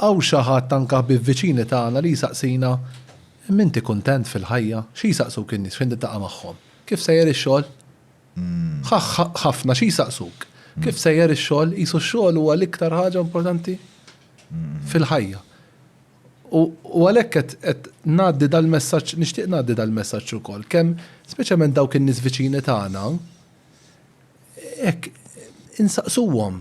Hawn xi ħadd anke ħbieb viċini tagħna li jsaqsina, M'inti kuntent fil-ħajja? Xi jsaqsuk in-nies fejn tiltaqa' magħhom? Kif sejjer ix-xogħol? Ħafna xi jsaqsuk? Kif sejjer ix-xogħol? Qisu x-xogħol huwa l-iktar ħaġa importanti fil-ħajja. U għalhekk qed ngħaddi dal-messaġġ, nixtieq ngħaddi dal-messaġġ ukoll, kemm speċjalment dawk in-nies viċini tagħna, hekk insaqsuhom.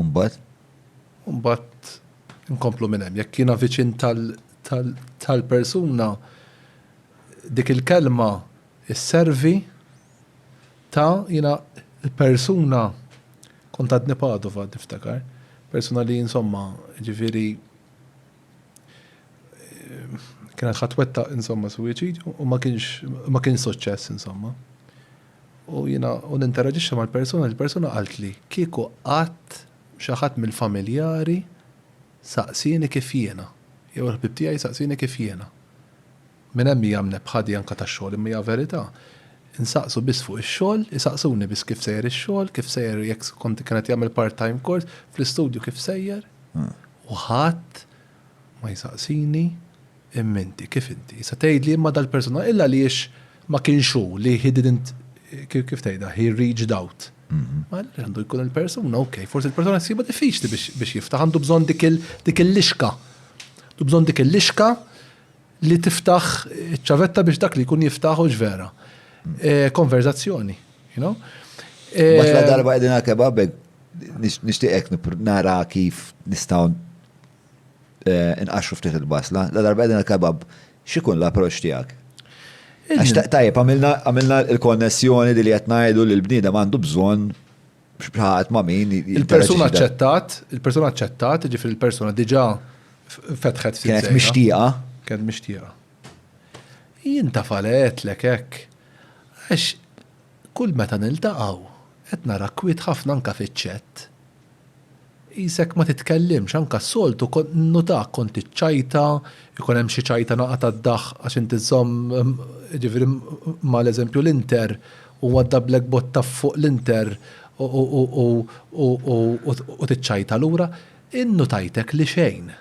Mbagħad? Mbagħad nkomplu minn hemm. Jekk jiena viċin tal-persuna dik il-kelma isservi ta' jiena persuna kont għadni Padova niftakar, persuna li insomma ġifieri kienet ħatwetta insomma suwiċidju u ma kienx suċċess insomma. U jiena u ninteraġixxi mal-persuna, il-persuna qaltli, kieku qatt xi ħadd mill-familjari saqsieni kif jiena, jew il-ħbieb tiegħi saqsieni kif jiena. Minn hemm hija mnebbħa di anke tax-xogħol imma hija verità. Insaqsu biss fuq ix-xogħol, isaqsuni biss kif sejjer ix-xogħol, kif sejjer jekk kont kien qed jagħmel part-time course, fl-istudju kif sejjer. U ħadd. Ma jsaqsini, Imma inti, kif inti? Issa tgħidli, Imma dal-persuna, illa għaliex ma kienx hu li he didn't, kif tgħidha, he reached out? Ma għaliex għandu jkun il-persuna, ok, forsi l-persuna jsibha diffiċli biex jiftaħ, għandu bżonn dik il-lixka. Għandu bżonn dik il-lixka li tiftaħ iċ-ċavetta biex dak li jkun jiftaħ hux vera. Eh, konverzazzjoni, you know? Għax la eh, darba għedin għal-kebabek, nishtiqek nara kif nistaw Inqaxxru ftit il-basla. La darba qegħdin għall-kebab, x'ikun l-approċċ tiegħek? Għax tajjeb għamilna l-konnessjoni li qed ngħidu li l-bniedem għandu bżonn x'bħaqat ma' min. Il-persuna aċċettat, il-persuna aċċettat, ġifieri il-persuna diġà fetħet ftit. Kienet mixtieqa. Kienet mixtieqa. Jien ta' falet lek hekk. Għax kull meta niltaqgħu qed nara kwiet ħafna anke fiċ-ċett. Qisek ma titkellimx, anke s-soltu kont ninnutak kont tiċċajta, ikun hemm xi ċajtana qatgħa d-daħq għax inti żżomm, jiġifieri ma' l-eżempju l-Inter, u għaddabllek botta fuq l-Inter u tiċċajta lura. Innutajtek li xejn.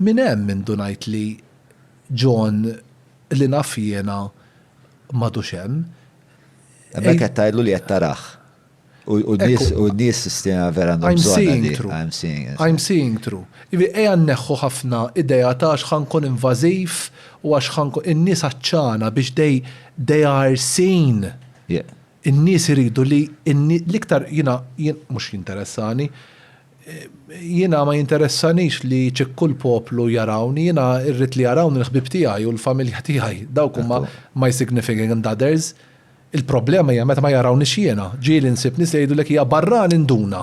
Minn hemm indunajt li John li naf jiena m'għadux hemm. Hemmhekk qed tgħidlu li qed tarah. U d-nies stina vera għandhom bżonn. I'm seeing through. I'm seeing through. I'm seeing through. Ivi, ejja nneħħu ħafna idea ta' għax ħa nkun invażiv u għax ħa nkun. In-nies għatxana biex they, they are seen. Yeah. In-nies iridu li l-iktar jiena mhux jinteressani, jiena ma jinteressanix li ċikku l-poplu jarawni, jiena rrid li jarawni l-ħbieb tiegħi u l-familja tiegħi. Dawk huma my significant others. Il-problema hija meta ma jarawniex jiena, ġieli nsib nies li jgħidulek hija barrani nduna.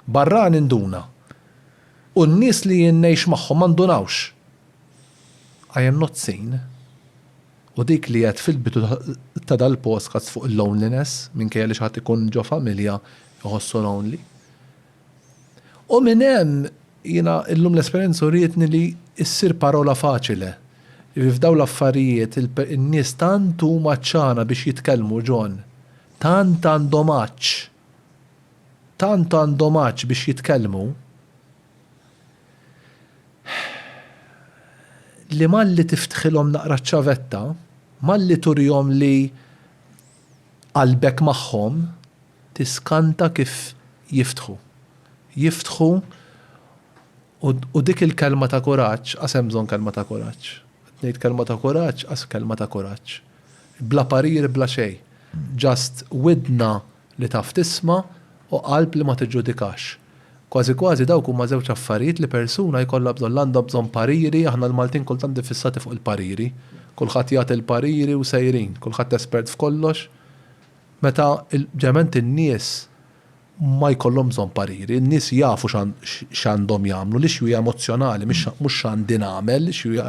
Barrani nduna. U n-nies li jien ngħix magħhom ma ndunawx. I am not seen. U dik li għedt fil-bidu ta' dal-postcards fuq il-loneliness, minkejja li xi ħadd ikun ġo familja jħossu lonely. U minn hemm, jiena illum l-esperjenza urietni li ssir parola faċile. Jiġifieri f'dawn l-affarijiet in-nies tant huma għatxana biex jitkellmu, John. Tant għandhom għatx. Tant għandhom għatx biex jitkellmu li malli tiftħilhom naqra ċ-ċavetta, malli turihom li, Qalbek magħhom tiskanta kif jiftħu. Jiftħu u u dik il-kelma ta' kuraġġ, qas hemm bżonn kelma ta' kuraġġ. Qed ngħid kelma ta' kuraġġ, qas kelma ta' kuraġġ. Bla parir bla xejn. Just widna li taf tisma' u qalb li ma tiġġudikax. Kważi kważi dawk huma żewġ affarijiet li persuna jkollha bżonn, l-għandha bżonn pariri, aħna l-Maltin kultant iffissati fuq il-pariri, kulħadd jagħti l-pariri u sejrin, kulħadd espert f'kollox, meta l-ġament in-nies ma jkollhom bżonn pariri, in-nies jafu x'għandhom jagħmlu, l-issue hija emozzjonali mhux x'għandi nagħmel, l-issue hija